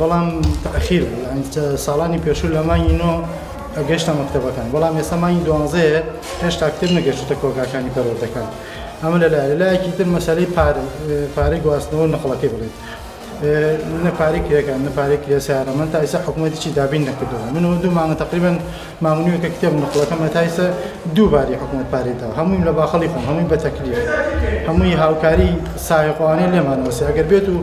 بەڵام تاخیر بوو یانی ساڵانی پێشوو لە مانگی نۆ گەشتە مەکتەبەکان بەڵام ئێستا مانگی دوانزەیە هێشتا کتێب نەگەشتوتە کۆگاکانی پەروەردەکان ئەمە لە لایە لایەکی تر مەسەلەی پارە پارەی گواستنەوە نەقڵەکەی بڵێت نە پارەی کرێکان نە پارەی کرێ سیارە من تا ئێستا حکوومەتیی دابین نەکردەوە منەوە دوو مانگە تقریبن ماونیوکە کتێب نقڵەکە مەتایسە دوو باری حکومەت پارەی دا هەموویم لە باخەڵی خۆم هەمووی بە تەکلیف هەمووی هاوکاری سایقوانەی لێمان وەسێ ئەگەر بێت و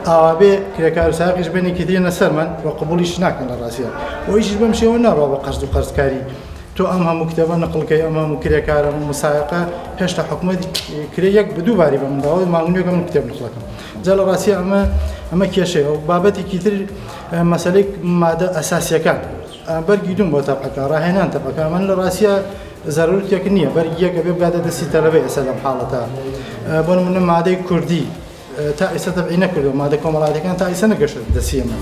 ئاوابێ کرێکار و ساقیش بێنی کە دێنە سەرمان و قبولیش ناکەن لە ڕاستە ئەویش بەم شێوە ناڕوا بە قەرز و قەرزکاری تۆ ئەم هەموو کتێبە نقلکەی ئەم هەموو کرێکارە و مسایقە هێشتا حکومەت کرێ یەک بە دوو باری بە منداڵی ماونیەکە من کتێب نخڵەکەم جا لە ڕاستی ئەمە ئەمە کێشەیە و بابەتێکی تر مەسلەی مادە ئەساسیەکان بەرگی دووم بۆ تەبعەکە ڕاهێنان تەبعەکە من لە ڕاستیە زەرورتێک نییە بەرگی یەکە بێ بگاتە دەستی تەلەبە ئێستا لەم حاڵەتە بۆ نمونە مادەی کوردی تا ئێستا تەبعی نەکردو مادە کۆمەڵاتەکان تا ئیسە نەگەشت دەسیە من.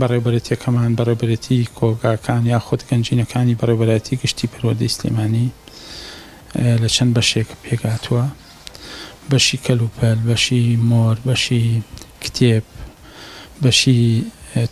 بەڕێوبەرێتیەکەمان، بەڕێوبەرێتی کۆگاکان یاخود گەنجینەکانی بەڕێوبەرایەتی گشتی پەروەردەی سلێمانی لە چەند بەشێک پێکهاتووە، بەشی کەلوپەل، بەشی مۆر، بەشی کتێب، بەشی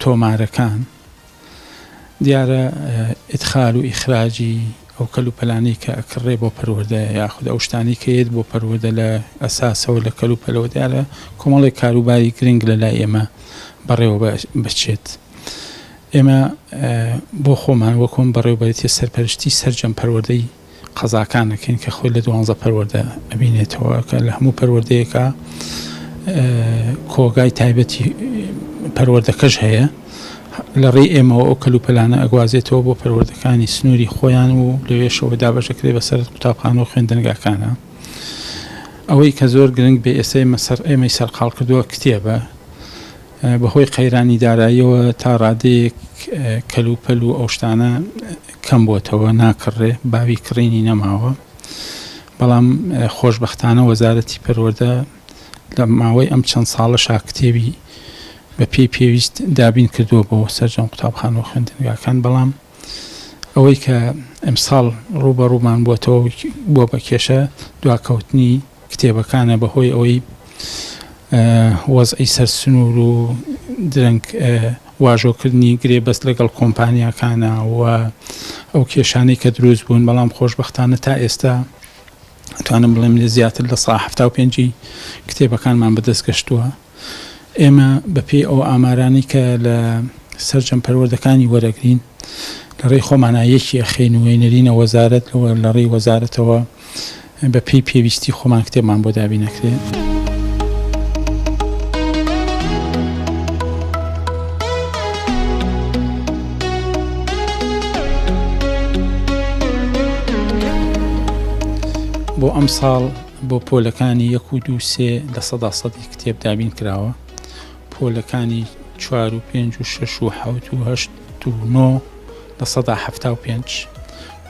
تۆمارەکان، دیارە ئیدخال و ئیخراجی ئەو کەل و پەلانەی کە ئەکڕێ بۆ پەروەردە یاخود ئەو شتانەی کە یەت بۆ پەروەردە لە ئەساسەوە لە کەل و پەلەوە دیارە کۆمەڵێک کاروباری گرنگ لە لای ئێمە بەڕێوە بچێت ئێمە بۆ خۆمان وەکۆم بەڕێوبەرێتی سەرپەرشتی سەرجەم پەروەردەی قەزاکانەکەین کە خۆی لە دوانزە پەروەەردە ئەبینێتەوە کە لە هەموو پەروەردەیەەکە کۆگای تایبەتی پەروەردەکەش هەیە لەڕێی ئێمەوە ئەو کەلوپەلانە ئەگوازێتەوە بۆ پەروەردەکانی سنووری خۆیان و لەوێشەوە دابەشەکرێ بەسەر قوتابخانە و خوێندنگاکانە ئەوەی کە زۆر گرنگ بێ ئێسەی مەسەر ئێمەی سەرقاڵ کردووە کتێبە بەهۆی قەیرانی داراییەوە تا ڕادەیەک کەلوپەل و ئەو شتانە کەم بۆتەوە ناکڕێ باوی کڕینی نەماوە بەڵام خۆشببختانە وەزارەتی پەروەەردە لە ماوەی ئەم چەند ساڵە شاکتێبی بە پێی پێویست دابین کردووە بۆ سەرجەم قوتابخانە و خوێندنگاکان بەڵام ئەوەی کە ئەمساڵ ڕووبەڕوومان بووەتەوە بووە بە کێشە دواکەوتنی کتێبەکانە بەهۆی ئەوەی وەزعی سەر سنوور و درەنگ واژۆکردنی گرێبەست لەگەڵ کۆمپانیاکانە و ئەو کێشانەی کە دروست بوون بەڵام خۆشببختانە تا ئێستا توانم بڵێم لە زیاتر لە سا هەفتا و پێنجی کتێبەکانمان بەدەست گەشتووە ئێمە بە پێی ئەو ئامارانەی کە لە سەرجەم پەروەردەکانی وەرەگرین لە ڕێی خۆمانا یەکی ئەخەین و ئەینەرینە وەزارەت و لە ڕێی وەزارەتەوە بە پێی پێویستی خۆمان کتێبمان بۆ دابین نەکرێت. بۆ ئەمساڵ بۆ پۆلەکانی یەک و دوو سێ لە سەدا سەدی کتێب دابین کراوە پۆلەکانی چوار و پێنج و شش و حوت و هەشت و نۆ لە سەدا هەفتا و پێنج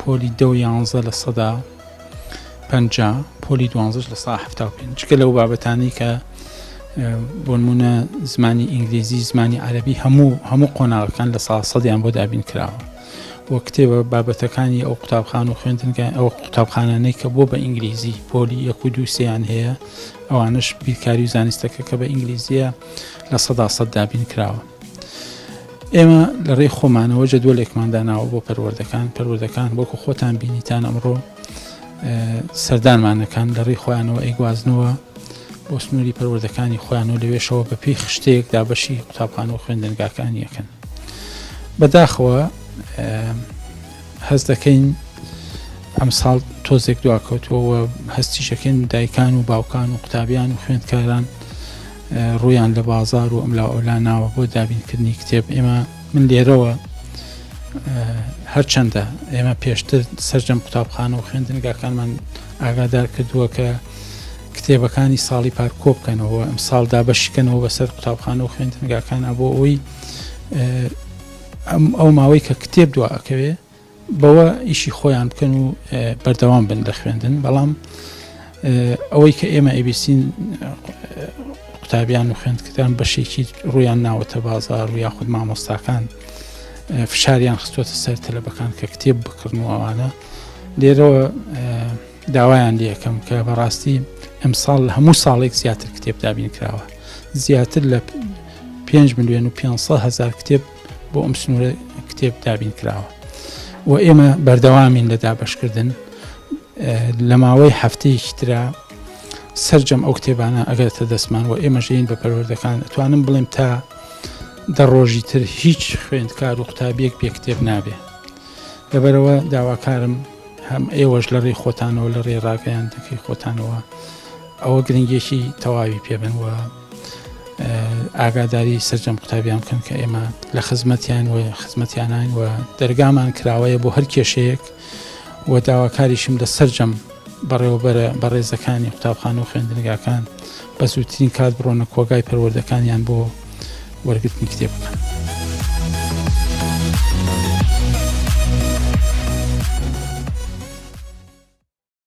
پۆلی دە و یانزە لە سەدا پ پۆلی دوانزش لە سا هەفتا و پێنج گە لەو بابەتانی کە بۆنمونە زمانی ئینگلیزی زمانی عەربی هەموو هەموو قۆناغەکان لە سا سەدیان بۆ دابین کراوە و کتێبە بابەتەکانی ئەو قوتابخان و خوێندنگای ئەو قوتابخانانەی کە بۆ بە ئینگلیزی پۆلی یەک و دوو سێیان هەیە ئەوانش بیرکاری و زانستەکە کە بە ئینگلیزیە لە سەدا سەد دابین کراوە ئێمە لە ڕێی خۆمانەوە جە دۆلێکمان داناوە بۆ پەروەردەکان پەروەردەکان وەکو خۆتان بینیتان ئەمڕۆ سەردانمانەکان لە ڕێی خۆیانەوە ئەیگوازنەوە بۆ سنووری پەروەردەکانی خۆیان و لەوێشەوە بە پێی خشتەیەک دابەشی قوتابخان و خوێندنگاکان یەکەن بەداخەوە هەز دەکەین ئەم ساڵ تۆزێک دواکەوتووەوە هەستیشەکەن دایکان و باوکان و قوتابیان و خوێندکاران ڕویان لە بازار و ئەملا ئەولا ناوە بۆ دابینکردنی کتێب ئێمە من لێرەوە هەرچەندە ئێمە پێشتر سرجەم قوتابخانە و خوێندنگاکانمان ئاگادار کردووە کە کتێبەکانی ساڵی پار کۆبکەنەوە ئەم ساڵ دابەشکەنەوە بەسەر قوتابخانە و خوێندنگاکان ئەبوو ئەوەی ئەم ئەو ماوەی کە کتێب دو ئەکەوێ بەوە ئیشی خۆیان بکەن و بەردەوام بن لە خوێندن بەڵام ئەوەی کە ئێمە ئەبیسین قوتابیان و خوێندکردان بەشێکی ڕویان ناوەتە بازار و یاخود مامۆستاکان فشاریان خستوەتە سەر تەلەبەکان کە کتێب بکردن و ئەوانە لێرەوە داوایان لەکەم کە بەڕاستی ئەمساڵ هەموو ساڵێک زیاتر کتێب دابین کراوە زیاتر لە 5 میلیۆن و 500 هزار کتێب بۆ ئەم سنوورە کتێب دابین کراوە و ئێمە بەردەوامین لە دابشکردن لە ماوەی هەفتەیەکی تررا سرجەم ئەو کتێبانە ئەگەرتە دەستمان و ئێمە ژین بە پەروەردەکان ئەتوانم بڵێم تا دە ڕۆژی تر هیچ خوێندکار و قوتابیەک پێ کتێب نابێ لەبەرئەوە داواکارم هەم ئێوەش لە ڕێی خۆتانەوە لە ڕێ ڕاگەیاندەکەی خۆتانەوە ئەوە گرنگێکی تەواوی پێبنوە ئاگاداری سرجەم قوتابیان بکەن کە ئێمە لە خزمەتیان و خزمەتیانان و دەرگامان کراوەیە بۆ هەر کێشەیەک و داواکاریشم لە سرجەم بەڕێوەبەرە بەڕێزەکانی قوتابخانە و خوێندنگاکان بە زووترین کات بڕۆنە کۆگای پەروەردەکانیان بۆ وەرگرتنی کتێب بکەن.